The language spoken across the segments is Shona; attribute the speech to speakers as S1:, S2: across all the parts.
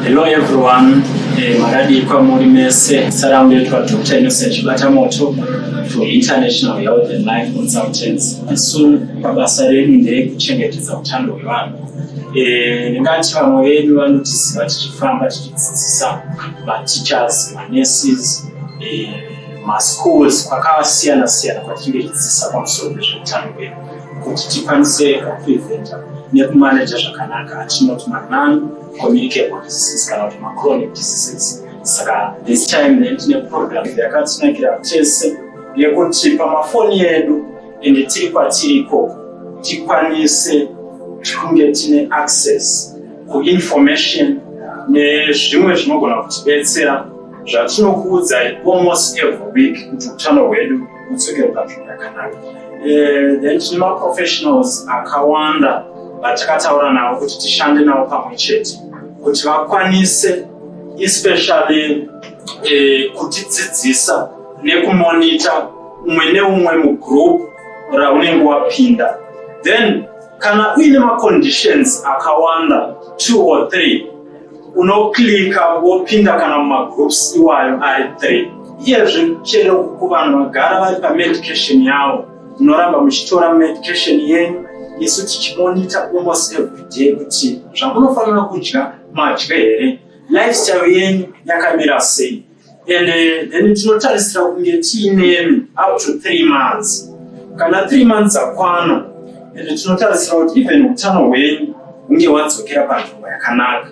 S1: Hello everyone, eh, makadii kwamuri mese. Salamu ndetwa Dr. Innocent Chibatamoto from International Health and Life Consultants. Isu mabasa redu ndeekuchengetedza utano hwevanhu. Eh, ndingati vamwe vedu vanotiziva tichifamba tichidzidzisa mateachers, manurses, eh, maschools kwakasiyana siyana kwatinenge tichidzidzisa pamusoro pezveutano hwedu. kuti tikwanise kupreventa nekumaneja zvakanaka atinoti manon communicable diseases kana kuti machronic diseases saka this time then tine program yakatinakira tese yekuti pamafoni edu ende tiri kwatiri ikoko tikwanise kunge tine access kuinformation nezvimwe zvinogona kutibetsera zvatinokuudzai almost every week kuti utano hwedu kudzokera zvakanaka eh, then tine maprofessionals akawanda vatakataura navo kuti tishande navo pamwe chete kuti vakwanise especially eh, kutidzidzisa nekumonita umwe neumwe mugroup raunenge wapinda then kana uine maconditions akawanda two or three unoclicka wopinda kana mumagroups iwayo ari three iyezve chero ku vanhu vagara vari pamedication yavo munoramba muchitora medication yenyu isu tichimonita almost every day kuti zvamunofanira kudya madye here lifestyle yenyu yakamira sei and eh, then tinotarisira kunge tiine up to three months kana three months akwana and tinotarisira kuti even utano hwenyu hunge hwadzokera panzvimbo yakanaka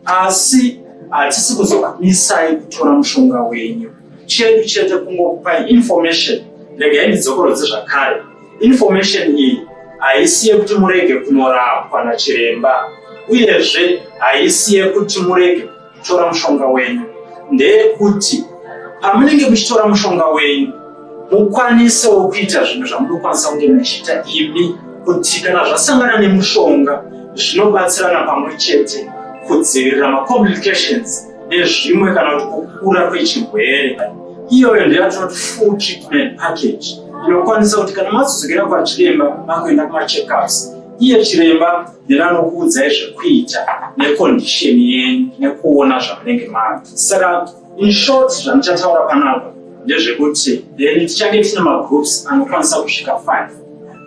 S1: asi hatisi kuzokumisai kutora mushonga wenyu chedu chete kungokupai information regai ndidzokorodze zvakare information iyi haisi yekuti murege kunorapwa nachiremba uyezve haisi yekuti murege tora mushonga wenyu ndeyekuti pamunenge muchitora mushonga wenyu mukwanisewo kuita zvinhu zvamunokwanisa kunge muchiita imi kuti kana zvasangana nemushonga zvinobatsirana pamwe chete kudzivirira macomplications nezvimwe kana kuti kukura kwechirwere iyoyo ndeyatinoti full treatment package inokwanisa kuti kana mazodzokera kwachiremba makuenda kumacheckups iye chiremba ndinokuudzai zvekuita necondition yenyu nekuona zvamunenge mava saka inshort zvandichataura panapa ndezvekuti then tichange tine magroups anokwanisa kusvika five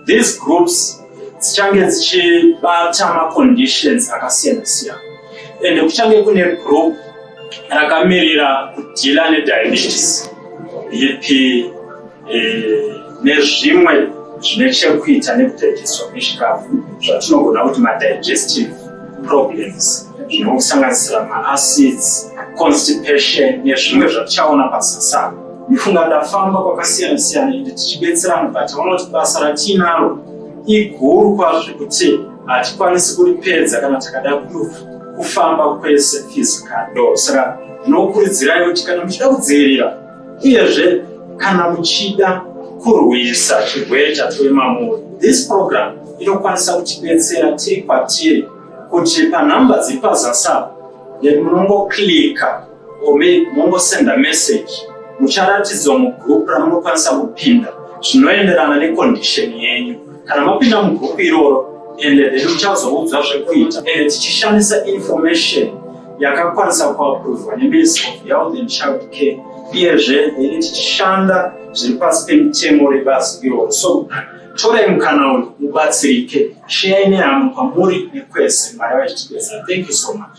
S1: these groups dzichange dzichibata maconditions akasiyana siyana and kuchange kune group rakamirira kudhila nediabetes bp eh, nezvimwe zvine chekuita nekutedzeswa kwechikafu zvatinogona kuti madigestive problems zvinokusanganisira maacids constipation nezvimwe zvatichaona pasasana ndifunga ndafamba kwakasiyana siyana ende tichibetserana but vanoti basa ratiinaro iguru kwazvo zvekuti hatikwanisi kuripedza kana takada kufamba kwese physicaldo saka ndinokurudzirai kuti kana muchida kudzivirira Uyezve, kana muchida kurwisa chirwere chatove mamuri, this program inokwanisa kutibetsera tiri kwatiri kuti panhamba dziri pazasap nemunongoclika or mongosenda message mucharatidzwa mugroup ramunokwanisa kupinda zvinoenderana necondition yenyu kana mapinda mugroup iroro ende then muchazoudzwa zvekuita ende tichishandisa information yakakwanisa kuaprovha neminist of health and child care iyezve yainge tichishanda zviri pasi pemitemo rebazi iroro so torai mukana uyu mubatsirike shiyai nehama kwamuri nekwese mwari vachitibesa thank you so much